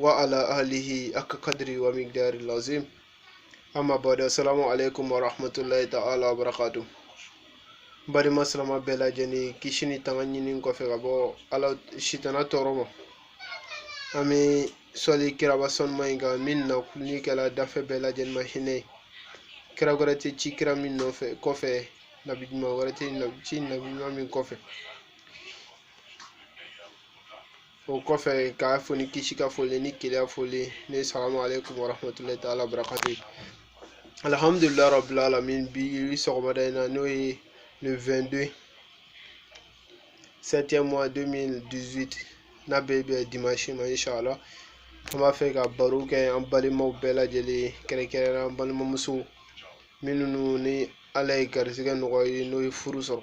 wa ala alihi haka kadri wa migdari lazim amma ba da salamu alaikum wa rahmatullahi ta'ala wa barakatu badenma silamɛ bɛɛ lajɛlen kisi ni tanga ɲini kɔfɛ ka bɔ ala sitana tɔɔrɔ ma an bɛ sɔli kiraba sanuma in kan min na kuluni kɛla dafɛn bɛɛ lajɛlen ma hinɛ ye kira wɛrɛ tɛ ci kira min nɔfɛ kɔfɛ nabi ɲuman wɛrɛ tɛ ci nabi ɲuman min kɔfɛ o kɔfɛ k'aw fo ni kisi ka foli ni keleya foli ne salamu aleykum warahmatulahi taala barakatu alhamdulilayi rabbil alamin bi sɔgɔmada in na n'o ye le 22 septième mois 2018 n'a bɛ bɛn dimanche ma inshallah an b'a fɛ ka baro kɛ an balimaw bɛɛ lajɛlen ye kɛrɛnkɛrɛnnenya an balimamusow minnu ni ala ye garisɛgɛ nɔgɔya ye n'o ye furu sɔrɔ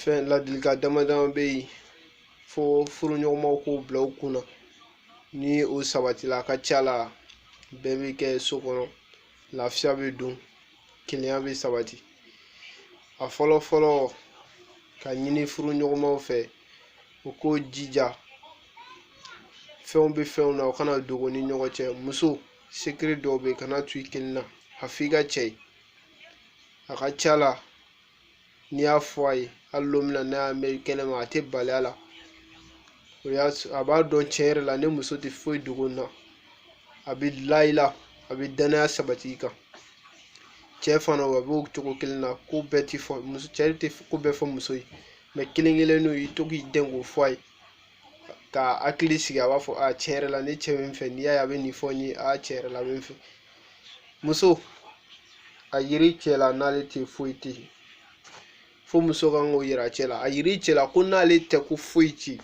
fɛn ladilikan dama dama bɛ yen fo furuɲɔgɔnmaw k'o bila u kun na ni o sabatila a ka ca la bɛn bɛ kɛ so kɔnɔ lafiya bɛ don kelenya bɛ sabati a fɔlɔ fɔlɔ ka ɲini furuɲɔgɔnmaw fɛ u k'u jija fɛnw bɛ fɛnw na o kana dogo ni ɲɔgɔn cɛ muso secret dɔw bɛ yen kana to i kelen na a f'i ka cɛ ye a ka ca la n'i y'a fɔ a ye hali don min na n'a y'a mɛn kɛnɛma a tɛ bali a la a b'a dɔn tiɲɛ yɛrɛ la ne muso tɛ foyi dogo n na a bɛ la i la a bɛ danaya sabati i kan cɛ fana o a b'o cogo kelen na ko bɛɛ tɛ fɔ muso cɛ tɛ ko bɛɛ fɔ muso ye mɛ kelen kelen n'o y'i to k'i den k'o fɔ a ye ka hakili sigi a b'a fɔ a tiɲɛ yɛrɛ la ne cɛ bɛ n fɛ n'i y'a ye a bɛ nin fɔ n ye a tiɲɛ yɛrɛ la a bɛ n fɛ muso a yiri cɛ la n'ale tɛ foyi tɛ yen fo muso kan k'o yira cɛ la a yiri cɛ la ko n'ale tɛ ko foyi tɛ yen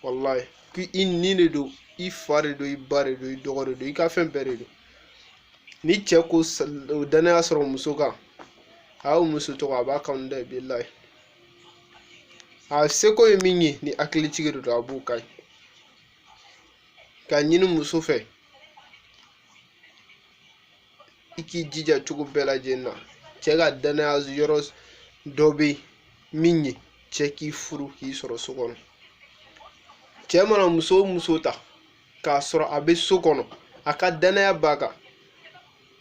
walayi ko i ni de don i fa de don i ba de don i dɔgɔ de don i ka fɛn bɛɛ de don ni cɛ k'o danaya sɔrɔ muso kan a y'o muso tɔgɔ a b'a kanu dɛ bilayi a seko ye min ye ni hakilitigi de don a b'o kɛ ka ɲini muso fɛ i k'i jija cogo bɛɛ lajɛlen na cɛ ka danaya yɔrɔ dɔ bɛ yen min ye cɛ k'i furu k'i sɔrɔ so kɔnɔ cɛ mana muso o muso ta k'a sɔrɔ a bɛ so kɔnɔ a ka danaya b'a kan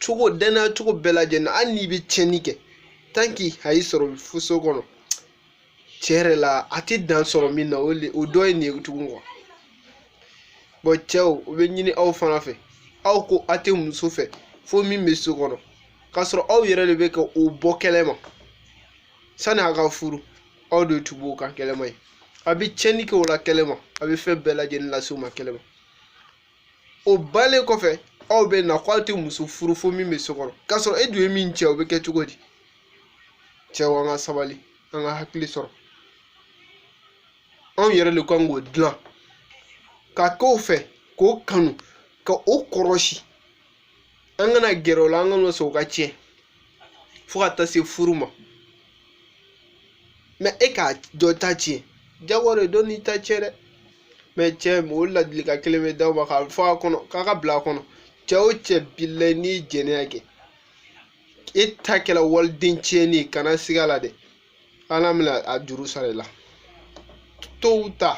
cogo danaya cogo bɛɛ lajɛlen na hali n'i bɛ tiɲɛni kɛ tant que a y'i sɔrɔ faso kɔnɔ tiɲɛ yɛrɛ la a tɛ dan sɔrɔ min na o le o dɔ ye nin ye tugun quoi bon cɛw o bɛ ɲini aw fana fɛ aw ko a tɛ muso fɛ fo min bɛ so kɔnɔ k'a sɔrɔ aw yɛrɛ de bɛ ka o bɔ kɛnɛ ma sani a ka furu aw de tun b'o kan kɛnɛ ma ye a bɛ tiɲɛni kɛ o la kɛnɛ ma a bɛ fɛn bɛɛ lajɛlen lase o ma kɛnɛ ma o banlen kɔfɛ aw bɛ na k'aw tɛ muso furu fo min bɛ so kɔnɔ k'a sɔrɔ e dun ye min tiɲɛ o bɛ kɛ cogo di cɛw an ka sabali an ka hakili sɔrɔ anw yɛrɛ de kan k'o dilan ka k'o fɛ k'o kanu ka o kɔrɔsi an kana gɛrɛ o la an kana sɔn o ka tiɲɛ fo ka taa se furu ma mais e ka dɔ ta tiɲɛ jago de dɔ n'i ta tiɲɛ dɛ mais cɛw ladilikan kelen bɛ d'aw ma k'a fɔ a kɔnɔ k'a ka bila a kɔnɔ cɛ o cɛ bilayi n'i ye jɛnɛya kɛ e ta kɛra waliden tiɲɛni ye kana siga a la dɛ ala bɛna a juru sara i la tôt ou tard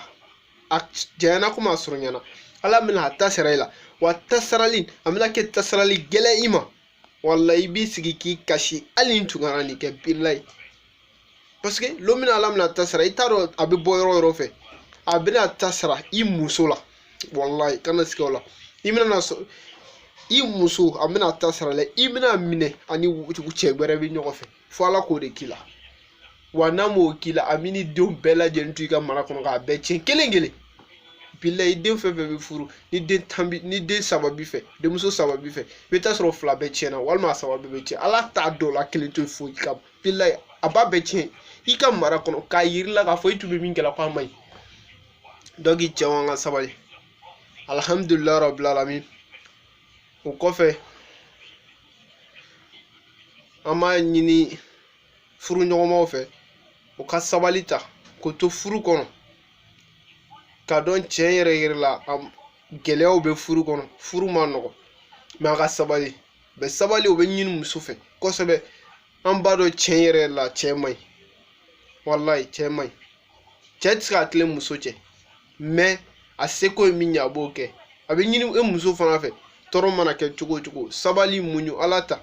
a janyana komi a surunyana ala bɛna a ta sara i la wa ta sarali a bɛna kɛ ta sarali gɛlɛn i ma wala i b'i sigi k'i kasi hali ne tun kana nin kɛ bilayi parce que lon min na ala bɛna ta sara i t'a dɔn a bɛ bɔ yɔrɔ yɔrɔ fɛ a bɛna ta sara i muso la walayi kana siga o la i bɛna sɔrɔ i muso a bɛna ta sara la i bɛna minɛ a ni cɛ wɛrɛ bɛ ɲɔgɔn fɛ fo ala k'o de k'i la wa n'a m'o k'i la a b'i ni denw bɛɛ lajɛlen to i ka mara kɔnɔ k'a bɛɛ tiɲɛ kelen kelen bilayi den fɛn fɛn bɛ furu ni den tan b'i ni den saba b'i fɛ denmuso saba b'i fɛ i bɛ taa sɔrɔ fila bɛɛ tiɲɛna walima a saba bɛɛ bɛ tiɲɛ ala t'a dɔw la kelen to foyi ka bilayi a b'a bɛɛ tiɲɛ i ka mara kɔnɔ k'a yira i la k'a fɔ i tun bɛ min kɛla k'a man ɲi donc cɛw an ka sabali alihamudulila rabil alamin o kɔfɛ an b'a ɲini furuɲɔgɔnmaw fɛ u ka sabali ta k'o to furu kɔnɔ k'a dɔn tiɲɛ yɛrɛ yɛrɛ la a gɛlɛyaw bɛ furu kɔnɔ furu man nɔgɔn mais a ka sabali bɛ sabali o bɛ ɲini muso fɛ kosɛbɛ an b'a dɔn tiɲɛ yɛrɛ la cɛ man ɲi walayi cɛ man ɲi cɛ tɛ se ka tilen muso cɛ mais a seko ye min ye a b'o kɛ a bɛ ɲini e muso fana fɛ tɔɔrɔ mana kɛ cogo o cogo sabali muɲu ala ta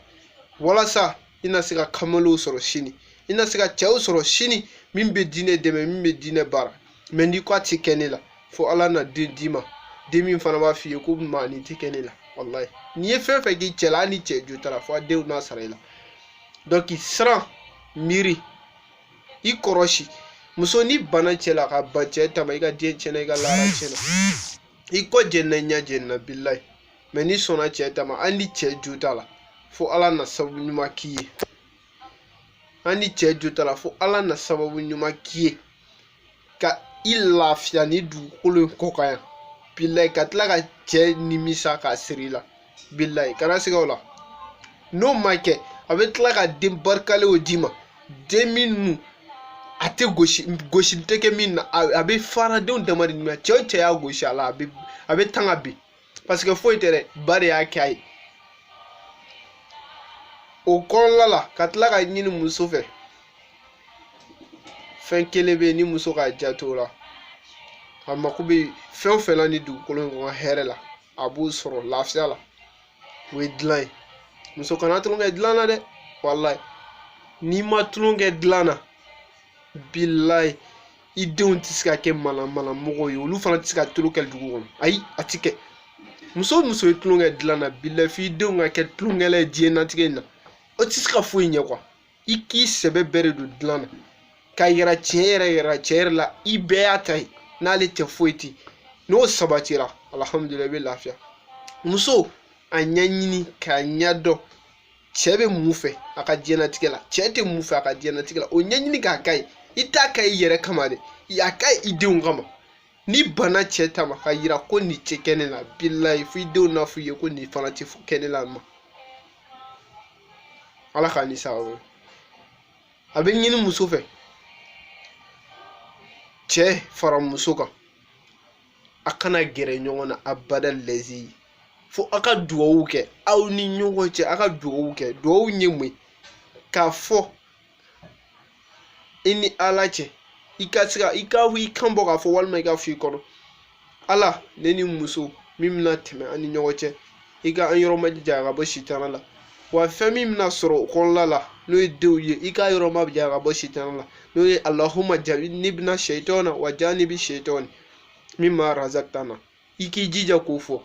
walasa i na se ka kamalenw sɔrɔ sini i na se ka cɛw sɔrɔ sini min bɛ diinɛ dɛmɛ min bɛ diinɛ baara mais n'i ko a tɛ kɛ ne la fo ala na den d'i ma den min fana b'a f'i ye ko maa nin tɛ kɛ ne la walayi n'i ye fɛn fɛn k'i cɛ la hali ni cɛ jo t'a la fo a denw n'a sara i la donc siran miiri i kɔrɔsi muso n'i banna cɛ la ka ban cɛ ta ma i ka diɲɛ tiɲɛna i ka laara tiɲɛna i kɔ jɛnna i ɲɛ jɛnna bilayi mɛ n'i sɔnna cɛ ta ma hali ni cɛ jo t'a la fo ala na sababu ɲuman k'i ye hali ni cɛ jo t'a la fo ala na sababu ɲuman k'i ye ka i lafiya ni dugukolo in kɔ kan yan bilayi ka tila ka cɛ nimisa k'a siri i la bilayi kana siga o la n'o ma kɛ a bɛ tila ka den barikalenw d'i ma den minnu a tɛ gosi gosili tɛ kɛ min na a bɛ faradenw dama de nimisa cɛ o cɛ y'a gosi a la a bɛ a bɛ tan ka bin paseke foyi tɛ dɛ ba de y'a kɛ a ye o kɔnɔna la ka tila ka ɲini muso fɛ fɛn kelen bɛ yen ni muso k'a janto o la a mako bɛ fɛn o fɛn na ni dugukolo in kɔ kan hɛrɛ la a b'o sɔrɔ lafiya la o ye dilan ye muso kana tulon kɛ dilan na dɛ walayi n'i ma tulon kɛ dilan na bilayi i denw tɛ se ka kɛ manamana mɔgɔ ye olu fana tɛ se ka tulon kɛ dugu kɔnɔ ayi a ti kɛ muso o muso ye tulon kɛ dilan na bilayi f'i denw ka kɛ tulonkɛla ye diɲɛnatigɛ in na u tɛ se ka foyi ɲɛ kuwa i k'i sɛbɛ bɛɛ de don dilan na k'a yira tiɲɛ yɛrɛ yɛrɛ tiɲɛ yɛrɛ la i bɛɛ y'a ta ye n'ale tɛ foyi ti n'o sabatira alihamudulilayi i bɛ lafiya muso a ɲɛɲini k'a ɲɛdɔn cɛ bɛ mun fɛ a ka diɲɛnatigɛ la cɛ tɛ mun fɛ a ka diɲɛnatigɛ la o ɲɛɲini k'a k'a ye i t'a kɛ i yɛrɛ kama dɛ a kɛ i denw kama n'i banna cɛ ta ma k'a yira ko nin tɛ kɛ ne la bilayi fo i denw n'a fɔ i ye ko nin fana tɛ kɛ ne la ma ala k'a ni sababu ye a bɛ ɲini muso fɛ cɛ fara muso kan a kana gɛrɛ ɲɔgɔn na abada lɛzi fo a ka dugawu kɛ aw ni ɲɔgɔn cɛ a ka dugawu kɛ dugawu ye mun ye k'a fɔ i ni ala cɛ i ka se ka i ka i kan bɔ k'a fɔ walima i k'a f'i kɔnɔ ala ne ni muso min bɛna tɛmɛ an ni ɲɔgɔn cɛ i ka an yɔrɔ majanya ka bɔ sitana la wa fɛn min bɛna sɔrɔ o kɔnɔna la n'o ye denw ye i k'a yɔrɔ majanya ka bɔ sitana la n'o ye alahuma janibina sayitana wa janibi sayitani min ma razakitana i k'i jija k'o fɔ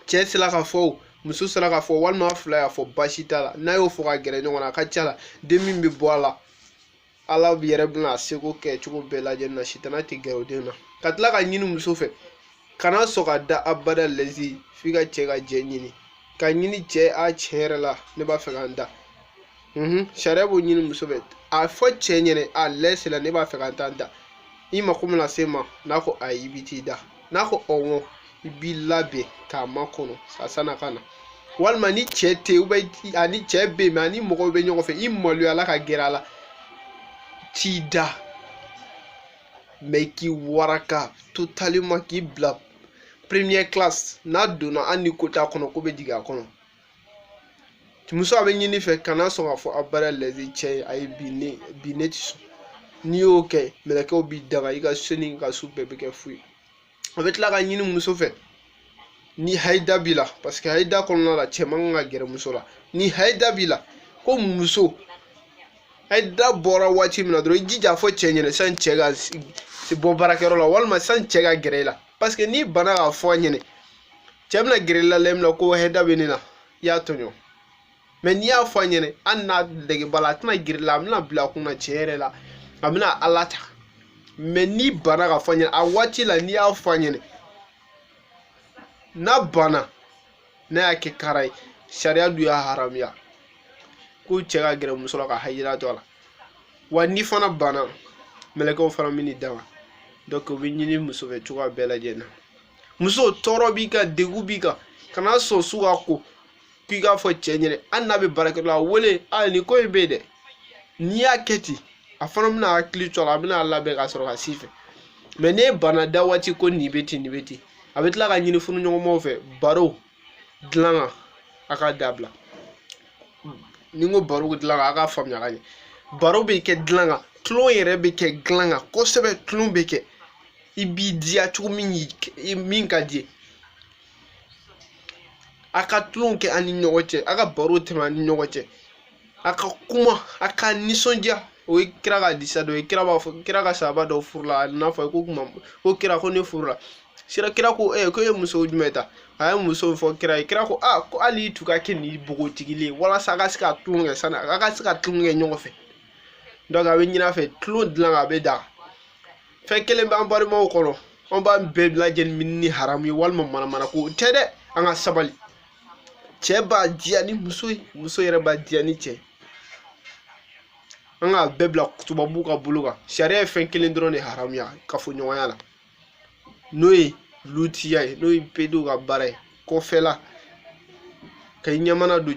cɛ sera k'a fɔ o muso sera k'a fɔ walima a fila y'a fɔ baasi t'a la n'a y'o fɔ ka gɛrɛ ɲɔgɔn na a ka ca la den min bɛ bɔ a la ala yɛrɛ bɛna a seko kɛ cogo bɛɛ lajɛlen na sitana tɛ gɛrɛ o den na ka tila ka ɲini muso fɛ kana sɔn ka da abada lɛzi f'i ka cɛ ka jɛn ɲini ka ɲini cɛ a tiɲɛ yɛrɛ la ne b'a fɛ ka n da sariya b'o ɲini muso fɛ a fɔ cɛ ɲɛ na a lɛsi la ne b'a fɛ ka n ta n da i mako bɛna se n ma n'a ko ayi i bɛ t'i da n'a ko ɔwɔ i b'i labɛn k'a makɔnɔ a san'a ka na walima ni cɛ tɛ yen ani cɛ bɛ yen mɛ ani mɔgɔw bɛ ɲɔgɔn fɛ i maloyala ka gɛrɛ a la t'i da mɛ k'i waraka totalement k'i bila première classe n'a donna hali ni ko t'a kɔnɔ ko bɛ jigin a kɔnɔ muso a bɛ ɲini fɛ kana sɔn k'a fɔ abada la i cɛ ye ayi bi ne bi ne tɛ sɔn n'i y'o kɛ mɛlɛkɛw b'i danga i ka so ni ka so bɛɛ bɛ kɛ fu ye a bɛ tila ka ɲini muso fɛ ni hayida b'i la parce que hayida kɔnɔna la cɛ man kan ka gɛrɛ muso la ni hayida b'i la ko muso hayida bɔra waati min na dɔrɔn i jija fɔ cɛ ɲɛna sani cɛ ka bɔ baarakɛyɔrɔ la walima sani cɛ ka gɛrɛ i la parce que n'i bana k'a fɔ a ɲɛnɛ cɛ bɛna gɛrɛ i la lɛri min na ko hayida bɛ ne la i y'a tɔɲɔ mɛ n'i y'a fɔ a ɲɛnɛ hali n'a nege b'a la a tɛna gɛrɛ i la a bɛna bila a kun na tiɲɛ yɛrɛ la a bɛna ala ta mɛ n'i bana k'a fɔ a ɲɛnɛ a waati la n'i y'a fɔ a ɲɛnɛ n'a banna n'a y'a kɛ kara ye sariya dun y'a haramuya ko cɛ ka gɛrɛ muso la ka hayida to a la wa n'i fana banna mɛlɛkɛw fana bɛn'i danga donc o bɛ ɲini muso fɛ cogoya bɛɛ lajɛlen na muso tɔɔrɔ b'i kan degun b'i kan kana sɔn su ka ko k'i k'a fɔ cɛ ɲɛnɛ hali n'a bɛ baarakɛyɔrɔ la wele a nin ko in bɛ yen dɛ n'i y'a kɛ ten a fana bɛna hakili to a la a bɛna labɛn ka sɔrɔ ka si fɛ mɛ n'e banna da waati ko nin bɛ ten nin bɛ ten a bɛ tila ka ɲini furuɲɔgɔnmaw fɛ baro dilan kan a k'a dabila ni n ko baro dilan kan a k'a faamuya ka ɲɛ baro bɛ kɛ dilan kan tulon yɛrɛ bɛ kɛ dilan kan kosɛbɛ tulon bɛ kɛ i b'i diya cogo min ka di ye a ka tulon kɛ a ni ɲɔgɔn cɛ a ka baro tɛmɛ a ni ɲɔgɔn cɛ a ka kuma a ka nisɔndiya o ye kira ka hadisa dɔ ye kira b'a fɔ kira ka sahaba dɔ furula a nana fɔ ko kuma ko kira ko ne furula sira kira ko ee ko e ye muso jumɛn ta a ye muso fɔ kira ye kira ko a ko hali i tun ka kɛ ni npogotigi ye walasa a ka se ka tulon kɛ sani a ka se ka tulon kɛ ɲɔgɔn fɛ donc a bɛ ɲini a fɛ tulon dilan a bɛ da fɛn kelen b'an balimaw kɔnɔ an b'a bɛɛ lajɛlen minɛ ni haramu ye walima manamana ko o tɛ dɛ an ka sabali cɛ b'a diya ni muso ye muso yɛrɛ b'a diya ni cɛ an k'a bɛɛ bila tubabuw ka bolo kan sariya ye fɛn kelen dɔrɔn de haramuya kafoɲɔgɔnya la n'o ye lutiya ye n'o ye pedow ka baara ye kɔfɛla ka i ɲɛmana don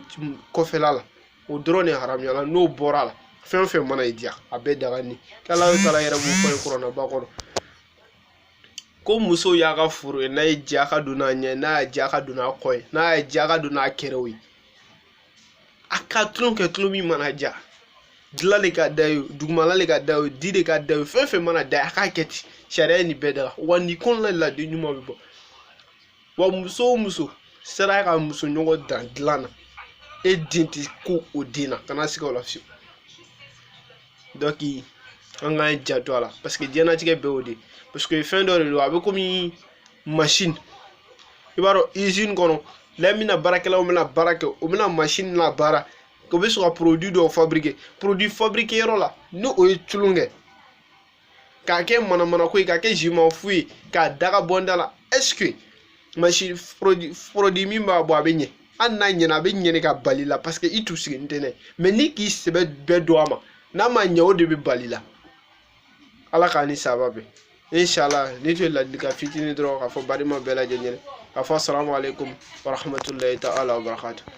kɔfɛla la o dɔrɔn de haramuyala n'o bɔra la fɛn o fɛn mana i diya a bɛɛ daga ni k'ala taala yɛrɛ b'o fɔ kuranaba kɔnɔ ko muso y'a ka foro ye n'a y'a diya ka don n'a ɲɛ n'a y'a diya ka don n'a kɔ ye n'a y'a diya ka don n'a kɛrɛw ye a ka tulon kɛ tulon min mana diya dilan de ka da ye dugumala le ka da ye di de ka da ye fɛn fɛn mana da ye a k'a kɛ ten sariya ye nin bɛɛ daga wa nin kɔnɔna de la den ɲuman bɛ bɔ wa muso o muso sera ka muso ɲɔgɔn dan dilan na e den tɛ ko o den na kana siga o la fiyewu donc an k'an janto a la parce que diɲɛnatigɛ bɛɛ y'o de parce que fɛn dɔ de don a bɛ komi machine i b'a dɔn usine kɔnɔ la min na baarakɛlaw bɛna baara kɛ o bɛna machine labaara o bɛ sɔrɔ ka produit dɔw fabriquer produit fabriquer yɔrɔ la ni o ye tulon kɛ k'a kɛ manamana ko ye k'a kɛ zima fu ye k'a daga bɔnda la est-ce que machine produit min b'a bɔ a bɛ ɲɛ hali n'a ɲɛna a bɛ ɲɛ de ka bali la parce que i tun sigilen tɛ n'a ye mais ni k'i sɛbɛ bɛɛ don a ma n'a ma ɲɛ o de bɛ bali la ala k'an ni saba bɛn inshallah nin tun ye ladilikan fitinin dɔrɔn k'a fɔ balima bɛɛ lajɛlen ɲɛna k'a fɔ assalamu aleykum warahmatulahi taala wabarakatu